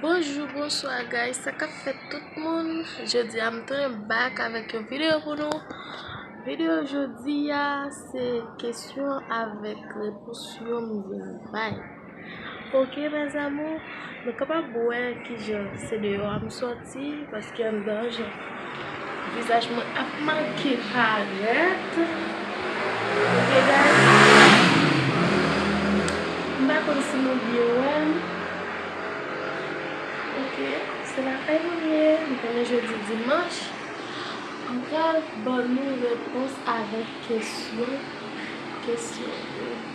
Bonjou bonswa guys sa kap fèt tout moun jodi a m tounen back avèk yon video pou nou video jodi a se kesyon avèk repons yo m vin bay ok mes amours nou kapab wè kijan se deyò a m sot Mèsi paske m danje. Vizaj mwen ap manke parèt. Ok guys. M pa konn si nou byen wè m. Ok se lakay mwen ye. M konnen jodi dimanch. M pral ban nou repons avèk kesyon. Kesyon yo.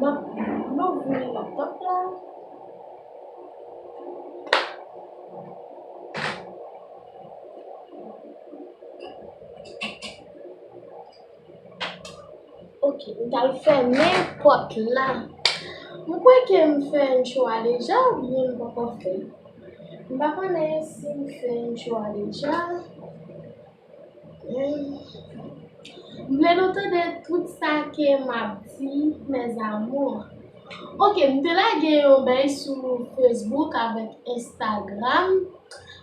Map louvri laptop la. Ok, m tal fèmen pot la. M kwè ke m fè yon chwa deja ou byen m poko fè. M pa konnen si m fè yon chwa deja. M vle nou tande tout sa ke m ap di mes amours. Ok m te lage yon bèy sou Facebook avèk Instagram.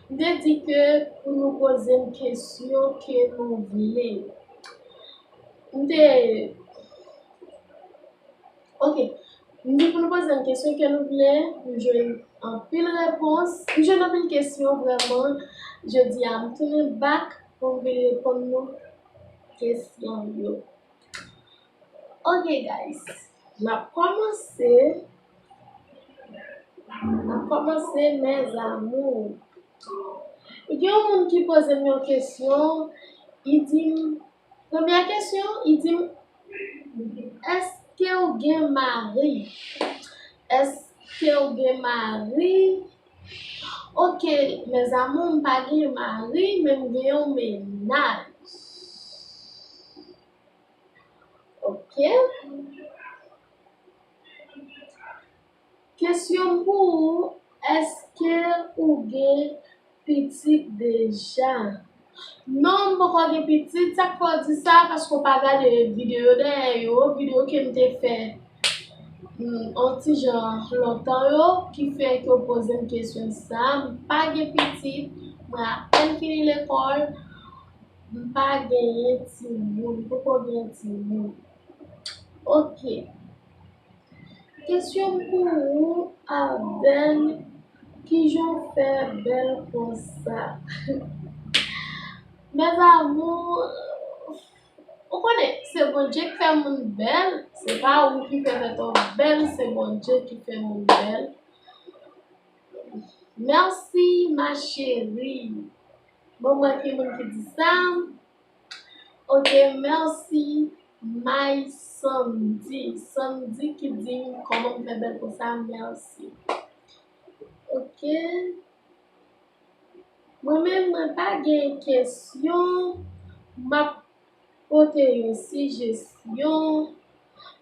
M te di ke pou nou poze m kesyon ke nou vle. M te. Ok Nou pou nou poze yon kesyon ke nou vle Nou jwenn anpil repons Nou jwenn anpil kesyon vreman Jodi a m tounen bak Pou m vin reponn nou Kesyon yo Ok guys N ap kòmanse N ap kòmanse mes amours Gen yon moun ki poze m yon kesyon Li di m Premyè kesyon li di m eskew gen mari eskew gen mari ok mes amours m pa gen mari men m gen yon mennaj ok. Kesyonm pou ou eske ou gen pitit deja. Non m poko gen pitit sak fè w di sa paske w pa gade video dèyè yo video kem te fè on ti jan lontan yo ki fè ke w pozem kesyon sa m pa gen pitit mwen apèn fini lekòl m pa genyen timoun m poko genyen timoun ok. Kesyon m pou ou Abel kijan w fè bèl konsa Mes amours Ou konnen se Bondye k fè moun bèl se pa ou ki fè tèt ou bèl se Bondye ki fè moun bèl Merci ma chérie Bon mwen ki moun ki di sa Ok merci my sandy sandy ki dim koman m fè bèl konsa merci ok mwen menm mwen pa gen kesyon map pote yon sijesyon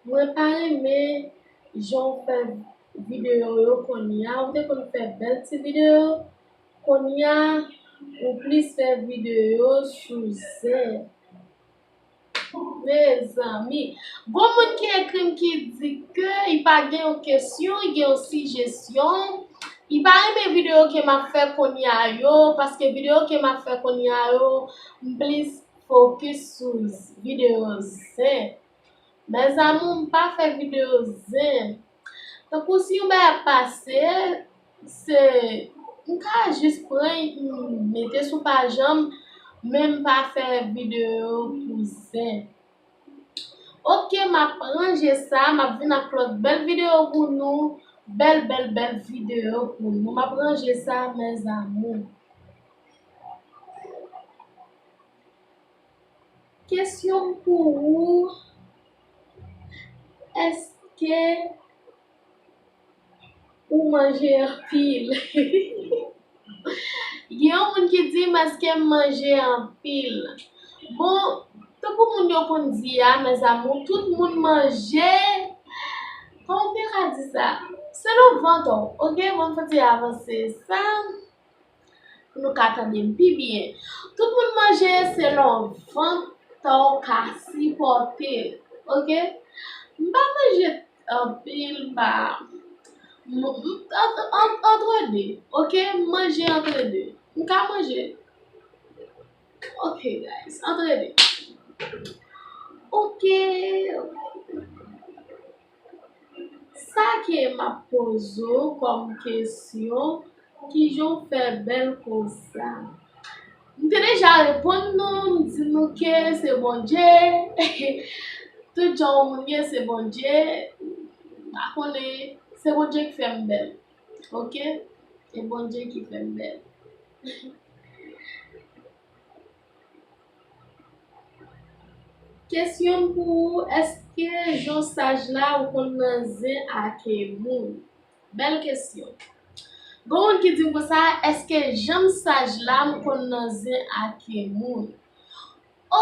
mwen pa renmen jan w fè videyo yo kounya ou te konn fè bèl ti videyo Konnya ou plis fè video sou zen. Mezanmi. Gon moun ki ekrim ki di ke i pa gen yon kesyon, gen yon sijesyon. I pa renmen video ke map fè konnya yo, paske video ke map fè konnya yo, m plis fokis sou video zen. Mes amour m pa fè video zen. Tankou si yon bagay ap pase, se m ka jis pran e pi m mete sou pajan m, men m pa fè videyo pou zen. Ok m ap ranje sa, m ap vin ak lòt bèl videyo pou nou, bèl bèl bèl videyo pou nou. M ap ranje sa mes amours. Kesyon m pou ou. Eske ou manje anpil? Gen yon moun ki di m eske m manje anpil? Bon, tankou moun yo konn di a, mèzamou, tout moun manje, kòman m te ka di sa? Selon vant ou, oke, bon, m fouti avanse sa. pou nou ka tande m pi byen. Tout moun manje selon vant tan w ka sipòte. Ok? M pa manje anpil, m pa, antre de. Ok? M manje antre de. M ka manje. Ok guys, antre de. Ok! Sa ke map poze w kòm kesyon, kijan w fè bèl konsa? M te deja reponn nou, m di nou ke se Bondye, tout jan yon moun ye se Bondye, m pa konnen, se Bondye ki fè m bèl ok, se Bondye ki fè m bèl. Kesyon m pou ou eske jon saj la ou konn nan zen ake moun. Bel kesyon. Gon moun ki dim konsa eske janm saj la m konn nan zen ake moun.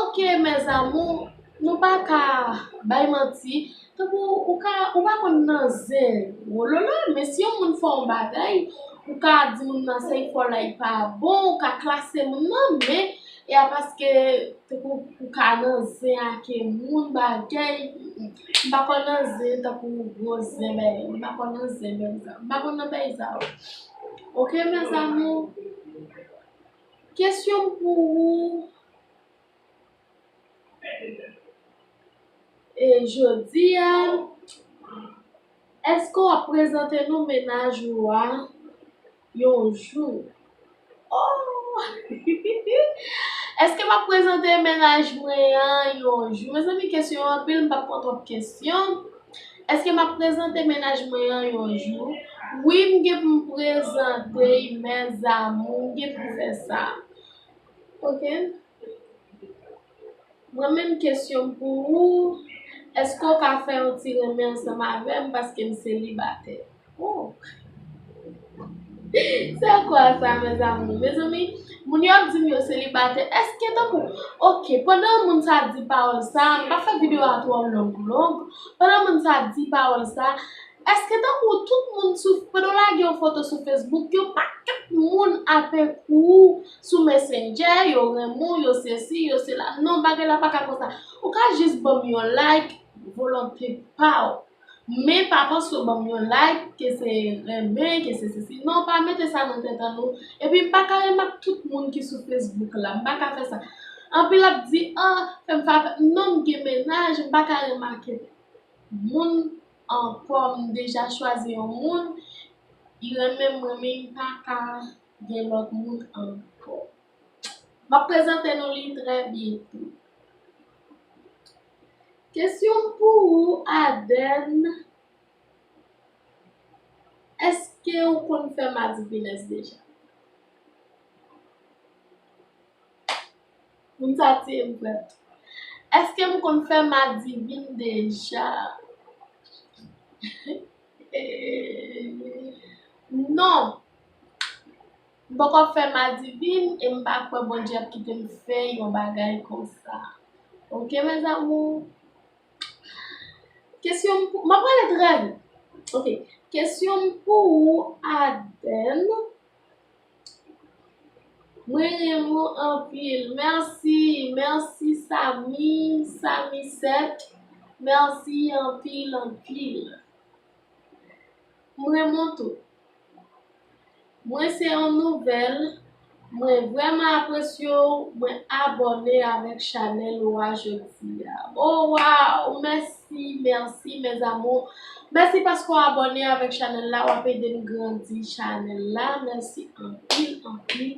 Ok mes amour nou pa ka bay manti. Tankou ou ka ou pa konn nan zen wololo men si yon moun fè yon bagay ou ka di moun nan se li fò la li pa bon ou ka klase moun nan men e a paske tankou ou ka nan zen ake moun bagay m pa konn nan zen tankou gwo zen bagay m pa konn nan zen menm sa m pa konn nan bagay sa yo ok mèzamou kesyon m pou ou. E jodi a, èske w ap prezante non mennaj ou a yon jou? Ohh! Èske m ap prezante mennaj mwen an yon jou? Mezanmi kesyon yo anpil, m pa pran twòp kesyon. Èske m ap prezante mennaj mwen an yon jou? Wi m gen pou m prezante y mèzamou, m gen pou m fè sa. Ok Mwen menm kesyon m pou ou Eske ou ka fè yon ti renmen ansanm avèm paske m selibatè oh Se kwa sa mes amour Mezanmi moun yo ap di m yo selibatè eske tankou ok pandan moun sa ap di pawòl sa m pa fè videyo a twò long long pandan moun sa ap di pawòl sa Eske tankou tout moun sou pandan w lage yon foto sou Facebook yo pa tout moun ape kou w sou messenger yo renmen w yo sesi yo sela non bagay la paka konsa ou ka jis banm yon like volonte pa w men pa panse w banm yon like ke se renmen ke se sesi non pa mete sa nan tèt an nou epi m paka renmen ak tout moun ki sou Facebook la m paka fè sa anpil ap di an fèm fè afè non m gen mennaj m paka remake moun. Ankò m deja chwazi yon moun li renmen mwen men li paka gen lòt moun ankò map prezante nou li trè byento kesyon m pou ou Adèn èske ou konn fè madivines deja. Moun sa tiyem frèt. Eske m konn fè madivin deja? Non. M poko fè madivin e m pa kwè Bondye ap kite m fè yon bagay konsa. Ok mes amours. Kesyon pou, m ap pale trè vit. Ok. Kesyon m pou ou Adèle. Mwen renmw anpil merci merci samy samy 7 merci anpil anpil m renmen w tou mwen se yon nouvel mwen vreman apresye w mwen abone avek chanel ou a jodi a o waw mèsi. Merci merci mes amours Merci paske w abone avèk chanèl la wap ede m grandi chanèl la merci anpil anpil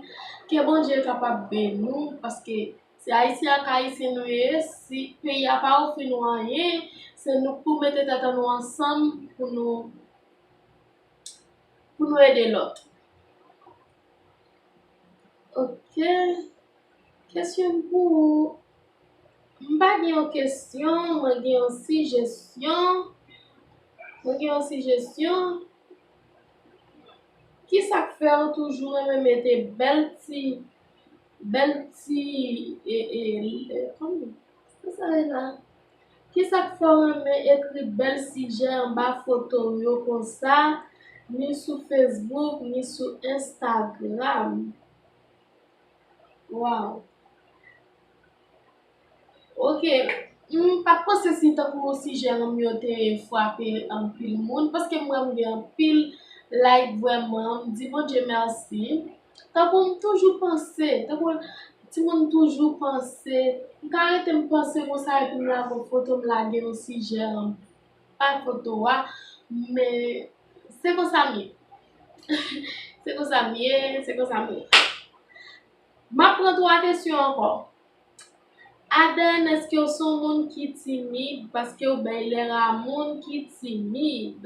ke Bondye kapab beni w paske se ayisyen ak ayisyen nou ye si peyi a pa ofri nou anyen se nou k pou mete tèt an nou ansanm pou nou pou nou ede lòt ok kesyon m pou ou M pa gen yon kesyon, mwen gen yon sijesyon. Mwen gen yon sijesyon. Ki sa k fè ou toujou renmen mete bèl ti, bèl ti, e, e, e, kòm, ki sa e la? Ki sa k fè ou renmen ekri bèl sijè anba foto ou yo konsa, ni sou Facebook, ni sou Instagram? Waww ok m pat panse si tankou sijè m yo te fwape anpil moun paske m wè m gen anpil like vrèman m di Bondye mèsi tankou m toujou panse tankou timoun toujou panse m ka rete m panse konsa epi m lage yon foto m lage yon sijè Pa foto a men se konsa m ye Se konsa m ye Se konsa m ye M ap pran 3 kesyon ankò Aden èske w se yon moun ki timid paske w bay lè a moun ki timid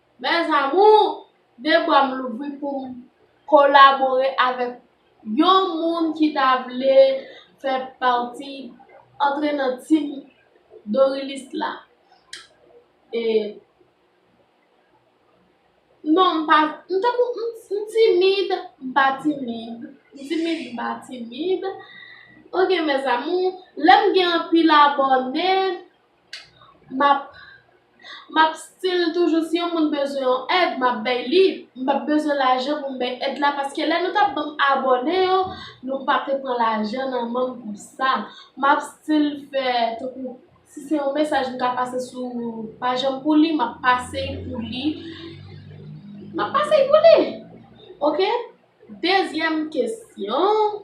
Mes amours, de bra m louvri pou m kolabore avèk yon moun ki ta vle fè pati, antre nan team Dorilis la. E Non m pa, m tankou m timid, m pa timid, m timid, m pa timid. Ok mes amours, lè m gen anpil abòne, map map stil toujou si yon moun bezwen yon èd map bay li m pap bezwen lajan pou m bay èd la paske lè nou tap banm abòne yo nou pa te pran lajan nan men m pou sa map stil fè tankou si se yon mesaj m ta pase sou paj an pou li map pase l pou li map pase l pou li ok dezyèm kesyon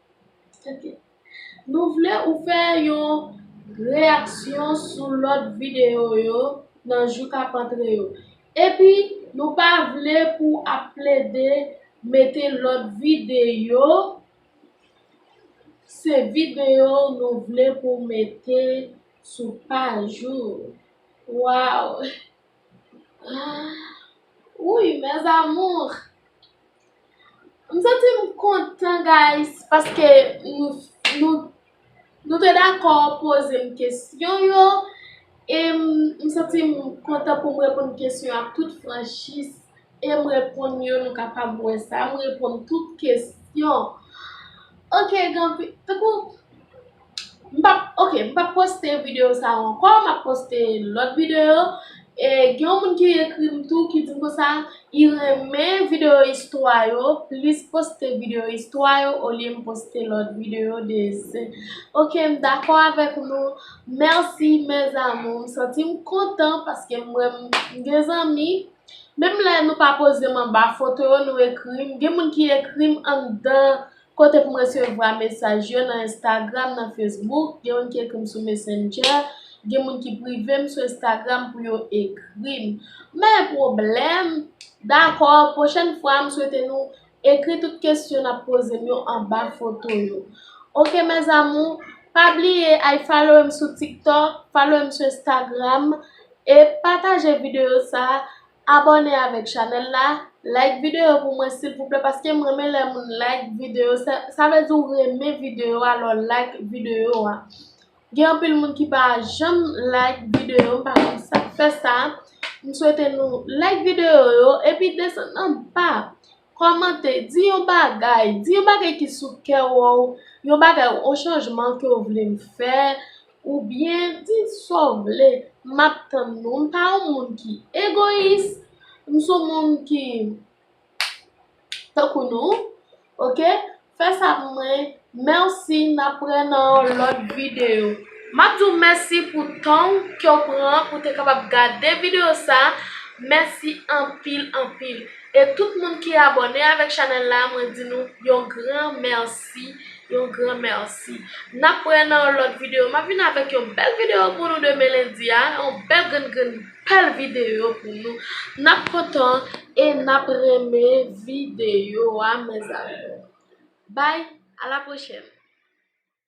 Nou vle ou fè yon reyaksyon sou lòt videyo yo nan jou k ap antre yo. Epi nou pa vle pou w ap plede mete lòt videyo, se videyo nou vle pou w mete sou paj ou. Waww. Wouyy mes amours M santi m kontan guys paske nou te dakò poze m kesyon yo e m santi m kontan pou m reponn kesyon yo ak tout franchis e m reponn yo nou kapab wè sa m reponn tout kesyon ok gen anpil tankou M pap, ok, m pap poste videyo sa yo ankò, m ap poste lòt videyo. E gen yon moun ki ekri m tou ki di m konsa, li renmen videyo istwa yo, plis poste videyo istwa yo olye m poste lòt videyo desen. Ok, m dakò avèk nou. Mèsi mes amours. M santi m kontan paske m wè m gen zanmi. Menm lè nou pa poze m anba foto yo, nou ekri m. Gen moun ki ekri m anndan Kote pou m resevwa mesaj yo nan Instagram, nan Facebook, gen moun ki ekri m sou Messenger, gen moun ki prive m sou Instagram pou yo ekri m. Men pwoblèm, dakò, pwochèn fwa m swete nou ekri tout kesyon n ap poze m yo anba foto yo. Ok mes amours, pa bliye ay falowe m sou TikTok, falowe m sou Instagram e pataje videyo sa Abòne avèk chanèl la, like videyo pou mwen silvouplè paske m renmen lè moun like videyo sa vle di ou renmen videyo a lè w like videyo a gen anpil moun ki pa janm like videyo m pa konn sak fè sa m swete nou like videyo yo epi desann anba Kòmante, di yon bagay, di yon bagay ki sou kè w, yon bagay, yon chanjman ke w vle m fè, oubyen di sa w vle, m ap tann nou. M pa yon moun ki egoyis, m son moun ki tankou nou, ok. Fè sa pou mwen merci nap wè nan yon lòt video. Map di w mèsi pou tan w ke w pran pou te kapab gade video sa mèsi anpil anpil e tout moun ki abòne avèk chanèl la mwen di nou yon gran mèsi yon gran mèsi nap wè nan yon lòt video map vin avèk yon bèl video pou nou demen lendi a yon bèl grenn grenn Bel video pou nou nap kontan e nap renmen video a mes amours bye a la prochèn.